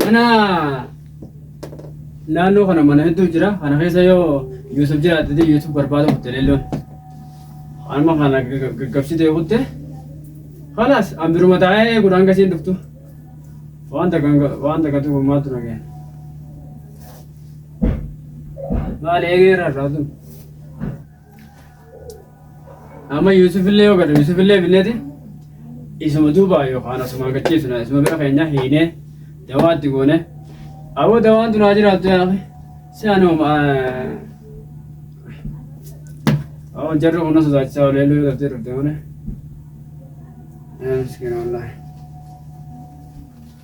Mana naannoo kana mana hedduu jira. Kana keessa yoo Yuusuf jiraate ta'e Yuusuf barbaada kutte leelloon. Amma kana gaggabsitee kutte. Kalaas an biruma taa'ee gudhaan gasiin dhuftu. Waan takka waan takka tokko maaltu na gahe. Maali eegee irraa irraa tun. Amma Yuusufillee yoo gadhu Yuusufillee binneeti isuma duuba yookaan asuma gachiisuna isuma bira keenya hiinee dawaatti goone aboo dawaan tun haa jiraattu yaafi si anoo aboo jarri kun na sodaachisaa olee luu dhabdee dhufte malee. Miskiina wallaahi.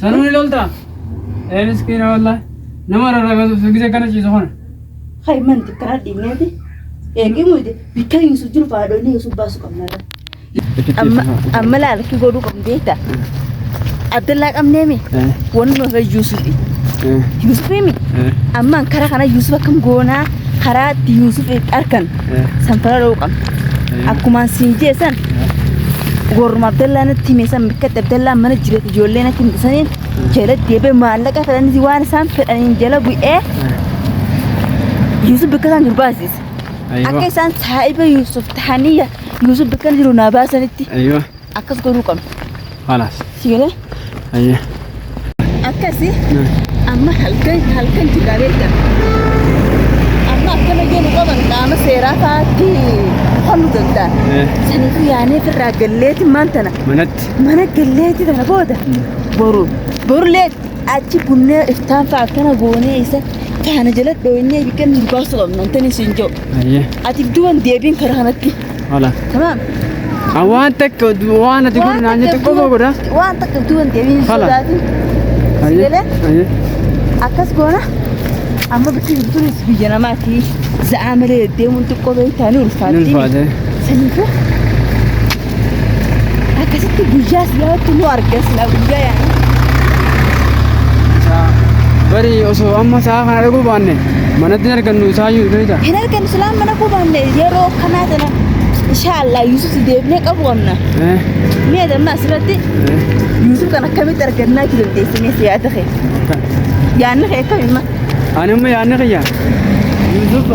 Sanuu ni loltaa? Ee miskiina wallah. Nama rarragasuuf sun gisee kana ciisu kana. Hay man xiqqaa dhiibneeti. Eegii muyde bikka hin su jiru faadonni hin su baasu qabnarra. Amma amma laalki godhuu qabnu beekta. Abdallaa qabneemi. Wanni nu hafe Yuusufi. Yuusufimi. Amma karaa kana Yuusuf akkam goonaa karaa itti Yuusuf arkan. Sanfara dha'uu qabna. Akkumaan siin jee san gooruma Abdallaa natti hime san bikkatti Abdallaa mana jireet ijoollee natti himte saniin jala deebee maallaqa fedhanitti waan isaan fedhaniin jala bu'ee Yuusuf bikka isaan jiru baasise. Akka isaan saahiba Yuusuf tahanii Yuusuf bikka jiru naa baasanitti. Aywa. akkas godhuu qabna. Halas. Si galee? Ayyee. Akkasi amma halkan halkan jiraalee jira. Amma akkana jennu qaban qaama seeraa faatti halluu danda'a. Eh. Saniitu yaanee irraa galleeti maan tana. Manatti. Mana galleeti tana booda boru borlee achi bunnee iftaan fa'a akkana goonee isa faana jala dhooynee biqilni baasuu qabna. Antani siin jiru. Ayyee. Ati duban deebiin karaa kanatti. Hola. تمام Awaan takka waan ati godhu naan jettu qofa godha. waan takka utuu hin deebiin Hala. sodaatin Ayyee. Sibilee? Ayyee. akkas goona amma bakki jirtunis biyya namaati za'aa malee deemuun xiqqoo beektaa ni Ni ulfaatti ulfaate. saniifuu akkasitti guyyaa siyaatti nu argasna guyyaa yaana Barii osoo amma sa'a kana dhaguu baanne. Manatti argannu isaa iyyuu beektaa? Hin argannu silaa mana koo baanne yeroo akkanaa sana inshaallah Yuusuf si deebinee qabu qabna. Eh, Mee damma asirratti eh, Yuusuf kan akkamitti argannaa itti dandeessinee si yaada kee. kan. Yaanni kee akkami ma? Ani immoo yaadni kiyya. Yuusuf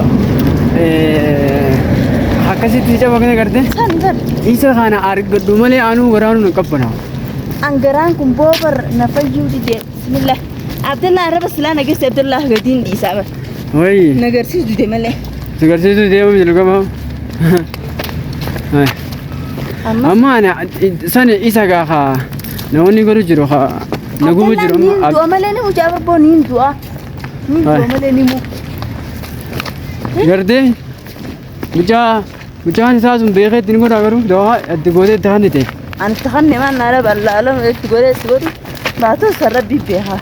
eh, akkasitti ija bakka gartee San san isa kana argadhu malee anuu waraanuu hin qabbana. angaraan kun boobar na fayyuu didee. Bismillah. Abdallah arraba silaa nageessi Abdallah gadiin dhiisaa bar. Wayi. Nagarsiisu dide malee. Nagarsiisu deemu jiru gama. Amma Amma ana san isa gaa haa namoonni godhu jiru haa na gubu jiru Abdallah amma. niin du'a malee ni mucaa barboo niin du'a. Niin du'a Hai. malee ni mu. Gardee mucaa Mucaan isaa sun beekee itti ni godhaa garuu dawaa itti gootee itti hannite. Ani itti hanne maan naa raba allaalama itti godhee itti godhu baatoo san rabbii beekaa.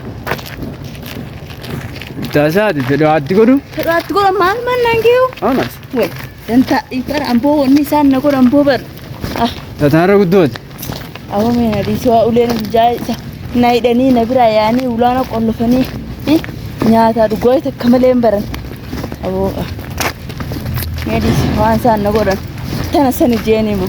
Taasaa itti dawaa itti godhu. Fedhaa itti godha maal maan naan geeyu? Amas. Wai, dan ta ikar ambo wani san na godha ambo bar. Ah, Tataarra guddooti. Aboo mee na dhiisi waa uleen hojjaa isa na hidhanii na biraa yaanii ulaana qollofanii eh, nyaataa dhugaa isa akka malee hin baran. Aboo ah, mee dhiisi waan isaan na godhan tana sani jeeni moo.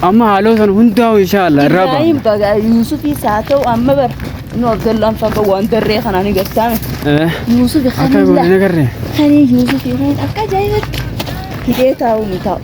Amma haaloo sana hundaa'u inshaallah irraa ba'a. Ibrahim baga Yuusufii saa ta'u amma bara nu Abdallaan faqa waan darree kanaan hin gartaame. Eh, Yuusufi Akka kanilla goone nagarree. kanii Yuusufii kan akka ajaa'ibatti hidhee taa'u ni taa'u.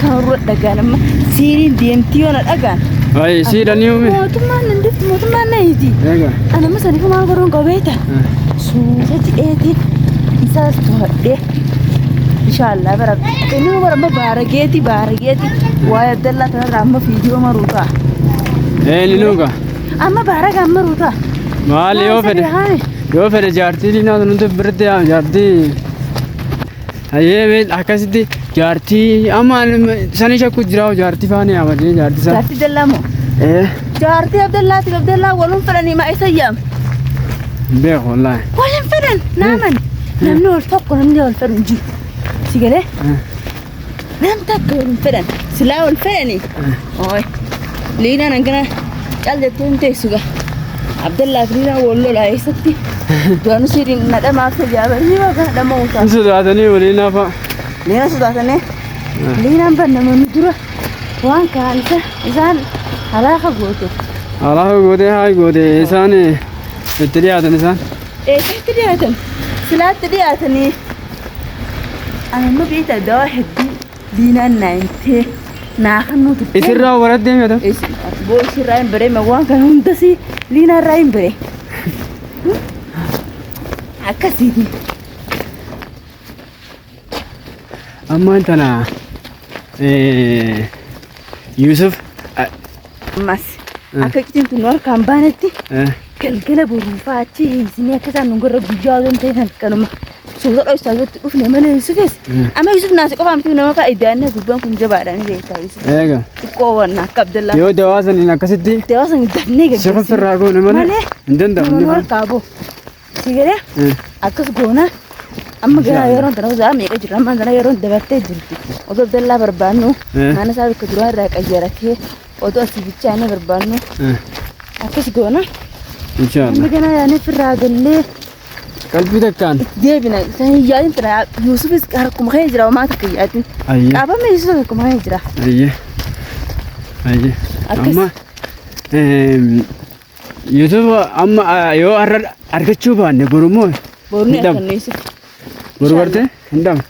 Kan irra dhagaan amma siiriin deemtii yoona dhagaan. Ayi siidhan yuumi. Mootummaan nan deemti mootummaan na hiiti. Eega. Ana amma saniif maal godhuun qabeeta. Suuta jedheeti isaas to'adhee. Inshaallah bara inni bara amma baarageeti baarageeti waa'ee Abdallaa kanarraa amma fiidiyoo maruu ta'a. Ee ni nuuga. Amma baaraga amma maruu ta'a. Maali yoo fedhe. Yoo fedhe jaartii diinaa sun nuti birritti yaa jaartii. Hayyee mee akkasitti jaartii amma sanii shakku jira hoo jaartii faana yaama jee jaartii sana. Jaartii dallaa moo? Ee Jaartii Abdallaatiif Abdallaa walum fedhanii maa isa yaam? beeku wallaahi. Walum fedhan naaman. Namni wal tokko namni wal fedhu hin jiru. Si galee? Nam takka wal hin fedhan. Silaa wal fedhani. Ooy. Liinaan hangana cal jettee hin teessu gaa. Abdallaa fi Liinaan wal lolaa eessatti. Du'aanu siidhi na dhamaaf tajaaba. Inni baga dhama uutaa. Hin sodaatanii waliin hafa. Liinaan sodaatanii. Liinaan bannamanii dura waan kaan isa isaan halaaka goote. Alaa gootee haa gootee isaan itti dhiyaatan isaan. Eessatti dhiyaatan? Silaatti dhiyaatanii. Amma beektaa dawaa hedduu diinaan naa himtee naa kannuu turte. Isirraa waraddee meeqa? Boo isirraa hin baree waan kana hundasii liinaarraa hin baree. Akkasiiti. Ammaan tana Yuusuf Ammas akka iccitiin tun nu harkaan baanetti galgala boruufaa achi isinii akka isaan nu gorra guyyaa osoo hin ta'in kanuma suuta dho'isaa irratti dhufne malee Yuusufis amma Yuusuf naasi qofaa miti nama kaa iddaannee gubbaan kun jabaadha ni beektaa Yuusuf eega xiqqoo wanna akka Abdallaa yoo dawaa saniin akkasitti dawaa san dafnee sifa gaggeessine firraa goone malee hin nama nu danda'amne. harkaa boo Si galee Eh. akkas goona amma gara yeroon tana usaa meeqa jirra amma tana yeroon dabartee jirti otoo dallaa barbaannu Eh. mana isaa bakka duraa irraa qayyaratee otoo asii bichaanee barbaannu Eh. akkas goona amma Inshallah. gara yaanee firraa gallee Qalbii takkaan. deebina san hin yaadin tana yuusufis harkuma kee jira homaa takka hin yaadin Ayyee. qaabama yuusuf harkuma kee jira Ayyee. Ayyee. Akkas. Amma eem, YouTube amma ah, yoo har'a argachuu baanne borummoo Boorni Midhama. akkanneessi. boru barte hin dhabu.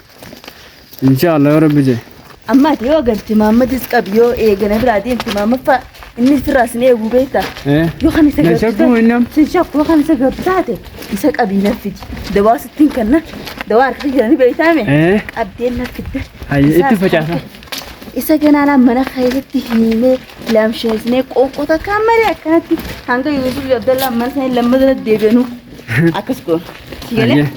Inshaallah yoo rabbi jedhe. Amma ati yoo garte maammadis qabi yoo eegana biraa deemte maammaffaa inni sirraa sin eeguu beektaa. Eh, Yoo kan isa Nan gabbisaa- shakkuu inni amma. Sin shakkuu kan isa gabbisaate isa qabii naffiti. Dawaa sittiin kanna dawaa harka jiranii beektaame. Eh, Qabdeen naffidde. Hayya, itti facaasa. Isa ganaan mana keessatti himee lamsheesnee qoqqoo takka malee akkanatti hanga Yuusuf fi Abdallaan mana isaanii lammata deebi'anuu akkas goona. Si galee? Hayyee.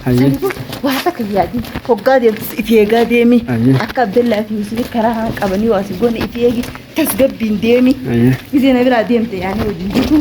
Hayyee. Sanifu waa takka yaadi hoggaa deemtus itti eegaa deemi Ayyee. akka Abdallaa fi Yuusuf karaa haa qabanii waa si goone itti eegi tasgabbiin deemi Hayyee. gisee na biraa deemte yaanii wajjin jirtu